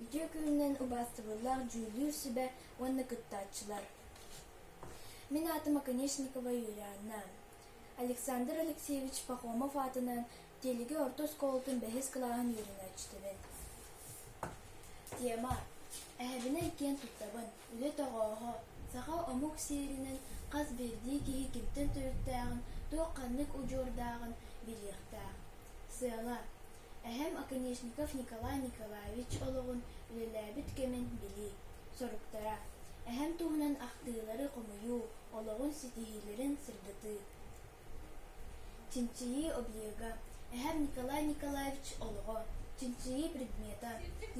Үтүө күнүнэн убаастабыллаах дьүүллүүр сүбэ уонна кыттааччылар! Мин аатым Оконешникова Юлианна. Александр Алексеевич Пахомов аатынан Тиэлиги орто оскуолатын бэһис кылааһын үөрэнээччитибин. Тема: Эһэбинэ иккиэн туттабын. Үлэ тоҕооһо, саха омук сиэринэн хас биирдии киһи кимтэн төрүттээҕин, туох-ханнык удьуордааҕын билиэхтээх. Сыала, эһэм Оконешников Николай Николаевич олоҕун, үлэлээбит кэмин билии. Соруктара, эһэм туһунан ахтыылары хомуйуу, олоҕун ситиһиилэрин сырдатыы. чинчийии объега эһэм николай николаевич олоҕо чинчийии предмета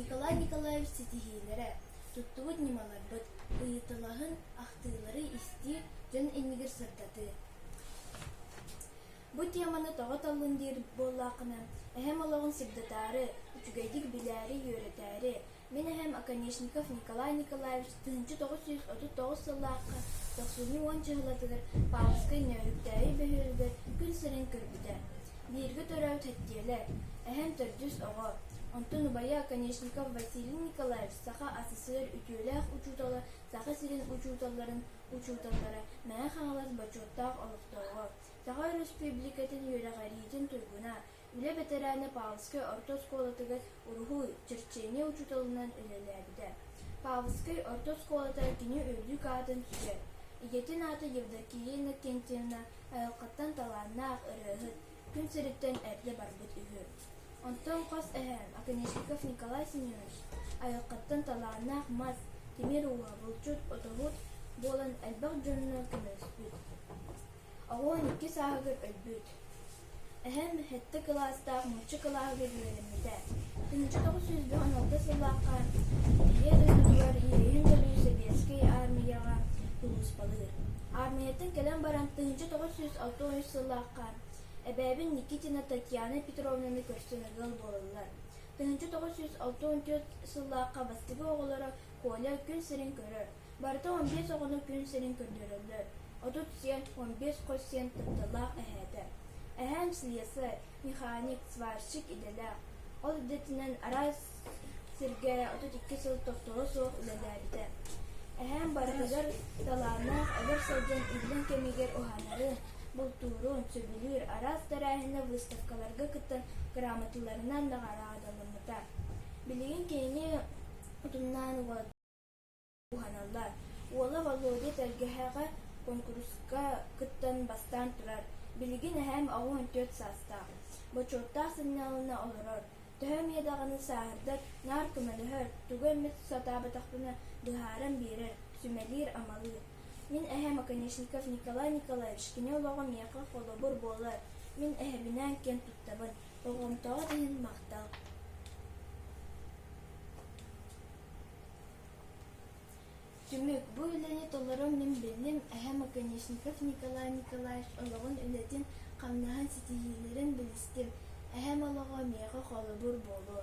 николай николаевич ситиһиилэрэ туттубут ньымаларбыт ыйытылаһын ахтыылары истиир дьон иннигэр сырдатыы бу теманы тоҕо толлун диир буоллаххына эһэм олоҕун сырдатаары үчүгэйдик билээри үөрэтээри Мин эһэм Оконешников Николай Николаевич тыһыынча тоҕус сүүс отут тоҕус сыллаахха тохсунньу уон чыһылатыгар Пааласкай Нөөрүктээйи бөһүөлүгэр күн сирин көрбүтэ. Бииргэ төрөөбүт Һэттиэлэ, эһэм төрдүс оҕо, онтон убайа Оконешников Василий Николаевич саха СССР үтүөлээх учуутала саха сирин учууталларын учууталлара Мэҥэ Хаҥалас бочуоттаах олохтооҕо, Саха Өрөспүүбүлүкэтин үөрэҕириитин туйгуна, Үлэ бэтэрээнэ Павловскай орто оскуолатыгар уруһуй, черчение учууталынан үлэлээбитэ. Павловскай орто оскуолата кини үрдүк аатын сүгэр, ийэтин аата Евдокия Иннокентьевна айылҕаттан талааннаах ырыаһыт, күн сириттэн эрдэ барбыт үһү. Онтон хос эһээм Оконешников Николай Семенович айылҕаттан талааннаах мас, тимир ууһа, булчут, отоһут буолан элбэх дьонно көмөлөспүт. Оҕуон икки сааһыгар өлбүт. Эһэм сэттэ кылаастаах нуучча кылааһыгар үөрэммитэ. Түнчүк тоҕус сүүс буһан алта сыллаахха ийэ дойдутугар иэйин дьолу Сэбиэскэй Аармыйаҕа кулууспалыыр. Аармыйаттан кэлэн баран тыһыынча тоҕус сүүс алта үс сыллаахха эбээбин Никитина Татьяна Петровнаны көрсөн ыал буолаллар. Тыһыынча тоҕус сүүс алта он түөрт сыллаахха бастакы оҕолоро Коля күн сирин көрөр, Барыта он биэс оҕону күн сирин көрдөрөллөр. Отут сиэн, он биэс хос сиэн тапталлаах эһээтэ. Эһэм слесарь, механик, сварщик идэлээх. Ол идэтинэн араас сиргэ отут икки сыл тохтоло суох үлэлээбитэ. Эһэм барытыгар талааннаах эдэр сылдьан иллэҥ кэмигэр уһанарын, бултуурун сөбүлүүр араас тэрээһинэ выставкаларга кыттан грамоталарынан наҕараадаламмыта. Билигин кини утумнаан уот уһаналлар. Уола Володя тэлгэһэҕэ куонкуруска кыттан бастаан турар. Билигин эһээм оҕус төрт саастаах. Бочуоттаах сынньалана олорор. Төһө эмиэ даҕаны сааһырдар, наар көмөлөһөр, тугу эмит сатаабатахпына быһааран биэрэр, сүмэлиир-амалыыр. Мин эһээм Оконешников Николай Николаевич, кини олоҕо миэхэ холобур буолар. Мин эһэбинээн киэн туттабын, болҕомтоҕут иһин махтал. Түмүк. Бу үлэни толорон мин биллим, эһэм Оконешников Николай Николаевич олоҕун үлэтин, хамнаһын ситиһиилэрин билистим. Эһэм олоҕо миэхэ холобур буолуо